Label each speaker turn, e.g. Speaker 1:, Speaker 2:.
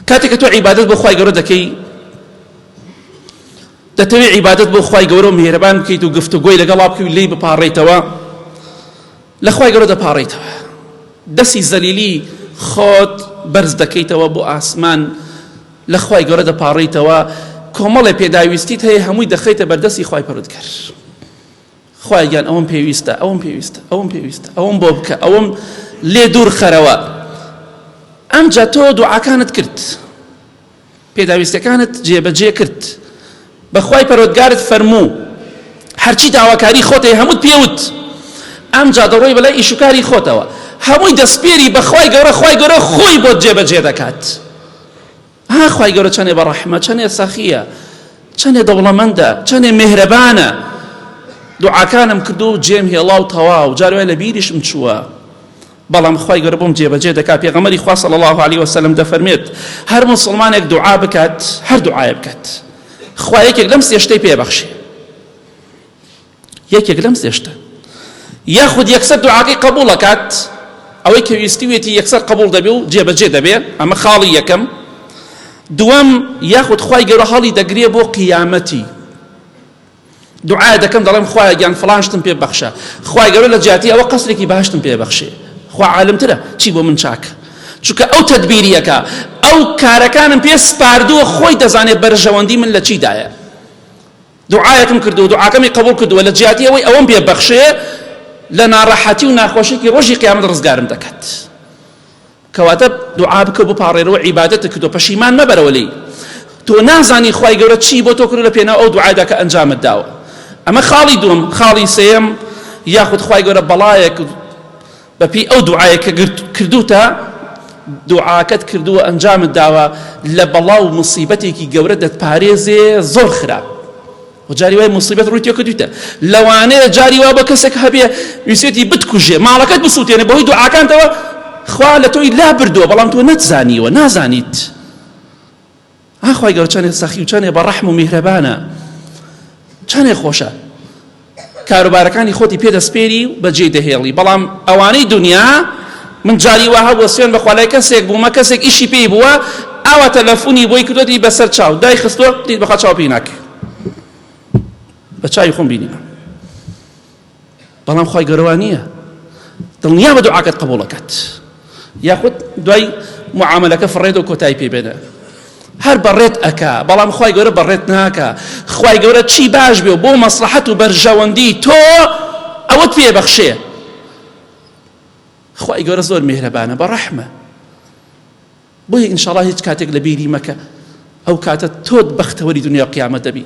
Speaker 1: کاتێک کە تۆ عیبادەت بۆ خوای گەورە دەکەی دەتەوێت عیبادەت بۆ خوای گەورە و میهرەبان بکەیت و گفتوگۆی لەگەڵا بکەی و لێی بپاڕێیتەوە لە خوای گەورە دەپاڕێیتەوە دەسی زەلیلی خۆت بەرز دەکەیتەوە بۆ ئاسمان لە خوای گەورە دەپاڕێیتەوە کۆمەڵێ پێداویستیت هەیە هەمووی دەخەیتە بەردەستی خوای پەرودگەر خوایە گیان ئەوەم پێویستە ئەوەم پێویستە ئەوەم پێویستە ئەوەم بۆ بکە ئەوەم لێ دوور خەرەوە ئەمجا تۆ دوعاکانت کرد پێداویستەکانت جێبەجێ کرد بەخوای پەرۆتگارت فەرموو هەرچی داواکاری خۆتەی هەمووت پێوت ئەم جا دەڕۆی بەلای ئیشوکاری خۆتەوە هەمووی دەستپێری بەخوای گەورە خوای گەورە خۆی بۆ جێبەجێ دەکات ها خوای گەورە چەنێ بەڕەحمە چەنێ سەخیە چەنێ دەوڵەمەندە چەنێ مێهرەبانە دوعاکانم کردو جێم هێڵا و تەواو جاروای لە بیریشم چووە بەڵام خی گەر بۆم جێبەجێ دەکا پێغەمەری خوا صلی الله عليه وسلم دەفەرمێت هەر مسلمانێک دوعا بکات هەر دوعاە بکات خوایەکێک لەم سێشتەی پێبەخشێ یەکێک لەم سێ شتە یاخود یەکسەر دوعاکەی قبوڵ ئەکات ئەوەی کە ویستویەتی یەکسەر قبوڵ دەبێ و جێبەجێ دەبێ ئەمە خاڵی یەکەم دووەم یاخود خوای گەورە هەڵی دەگرێ بۆ قیامەتی دوعای دەکەم دەڵێم خوایە گیان فڵان شتم پێ بەخشە خوای گەورە لە جیاتی ئەوە قەسرێکی باشتم پێ بەخشێ خوا عالمترە چی بۆ من چاکە چونکە ئەو تدبیریەکە ئەو کارەکانم پێ سپاردووە خۆی دەزانێت بەرژەوەندی من لە چیدایە دوعایەکم کردووە و دوعاکەمی قبوڵ کردووە، لە جیاتی ئەوەی ئەوەم پێ بەخشێ لە ناڕەحەتی و ناخۆشیەکی ڕۆژی قیامەت ڕزگارم دەکات. کەواتە دوعا بکە و بپاڕێرەوە عیبادەتت کردووە پەشیمان مەبەرەوە لێی. تۆ نازانی خوای گەورە چی بۆ تۆ کردووە لە پێناو ئەو دوعایدا کە ئەنجامت داوە. ئەمە خاڵی دووەم، خاڵی سێیەم یاخود خوای گەورە بەڵایەک، بەپێی ئەو دوعایە کە کردووتە، دوعاکەت کردووە ئەنجامت داوە، لە بەڵا و موسیبەتێکی گەورە دەتپارێزێ زۆر خراپ و جاری وای موسیبەت ڕووی تێ کردوویتە لەوانەیە جاری وا بە کەسێک هەبێ ویسێتی بتکوژێ ماڵەکەت بسووتێنێ بەهۆی دوعاکانتەوە خوا لە تۆی لا بردووە بەڵام تۆ نەتزانیوە نازانیت ئا خوای گەورە چەندێ سەخی و چەندێ بە ڕەحم و میهرەبانە چەندێ خۆشە کاروبارەکانی خۆتی پێ دەسپێری و بەجێی دەهێڵی بەڵام ئەوانەی دنیا من جاری وا هەبووە سوێن بەخوا لای کەسێک بوومە کەسێک ئیشی پێی بووە ئاوا تەلەفۆنی بۆی کردوەتی بەسەر چاو دای خستووە بەخوا چاو پێی ناکرد بە چاوی خۆم بینیمە بەڵام خوای گەورە وا نییە دڵنیا بە دوعاکەت قبوڵەکەت یاخود دوای معاملەکە فڕێت و کۆتایی پێ بێنە هەر بەڕێت ئەکا بەڵام خی گەورە بەڕێت ناکە خی گەورە چی باش بێ بۆ مەسلحەت و بەرژەوەندی تۆ ئەوەت پێ بەخشێ خی گەورە زۆر مێرەبانە بە ڕەحمە بۆیە ئینشاڵا هیچ کاتێک لە بیری مەکە ئەو کاتە تۆت بەختەوەری دنیا قیامەت دەبی